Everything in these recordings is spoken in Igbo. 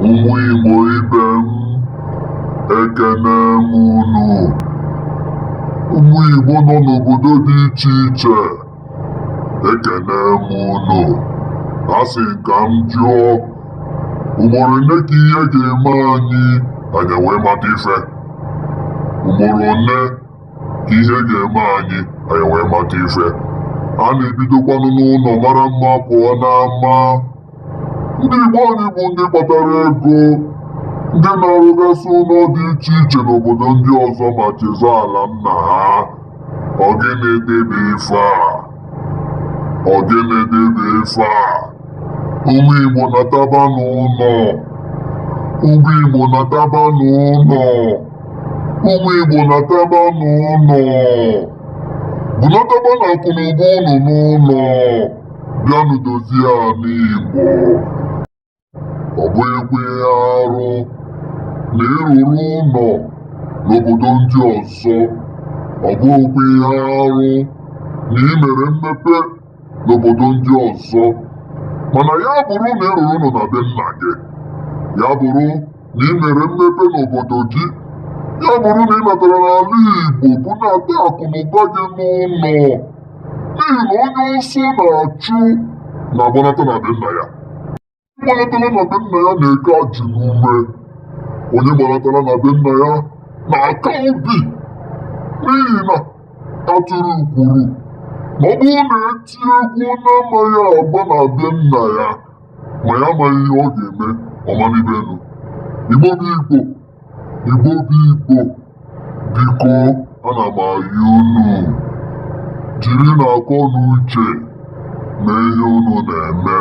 Ụmụ Igbo ibe m, ekene m unu. Ụmụ Igbo nọ n'obodo dị iche iche, ekene m unu. A sị ka m jụọ, ugboro one ka ihe ga-eme anyị anyị wee mata ife? Ugboro one ka ihe ga-eme anyị anyị wee mata ife? A na-ebidokwanụ n'ụnọ mara mma pụọ n'ama. ndị Igbo anyị bụ ndị kpatara ego ndị na-arụgasị ụnọ dị iche iche n'obodo ndị ọzọ ma chezọọ ala nna ha ọ gịnị debe ife a ọ gịnị debe ife a ụmụ Igbo nataba n'ụnọ ụmụ Igbo nataba n'ụnọ ụmụ Igbo nataba n'ụnọ bunatabanụ akụ na ụba unu n'ụnọ bịanụ dozie ala Igbo ọ bụghịkwa ihe arụ na ị rụrụ ụnọ n'obodo ndị ọzọ ọ bụghịkwa ihe arụ na ị mere mmepe n'obodo ndị ọzọ mana ya bụrụ na ị rụrụ ụnọ na be nna gị ya bụrụ na ị mere mmepe n'obodo gị ya bụrụ na ị natara n'ala Igbo bunata akụ na ụba gị n'ụnọ n'ihi na onye ọsọ na-achụ na-agbanata na be nna ya gbanatara na be nna ya na-eke ajị n'ume onye gbanatara na be nna ya na-aka obi n'ihi na atụrụ kwuru na ọ bụrụ na e tie egwu ọ na-amaghị agba na be nna ya ma ya amaghị ihe ọ ga-eme ọ manibe enu igbo bụ igbo Igbo bụ Igbo, biko ana m ayọ unu jirinụ akọ na uche mee ihe unu na-eme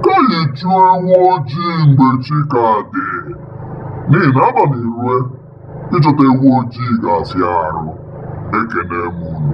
ka anyị chụọ ewu ojii mgbe chi ka dị n'ihi na abanị rue ịchọta ewu ojii ga-afịa arụ ekene m unu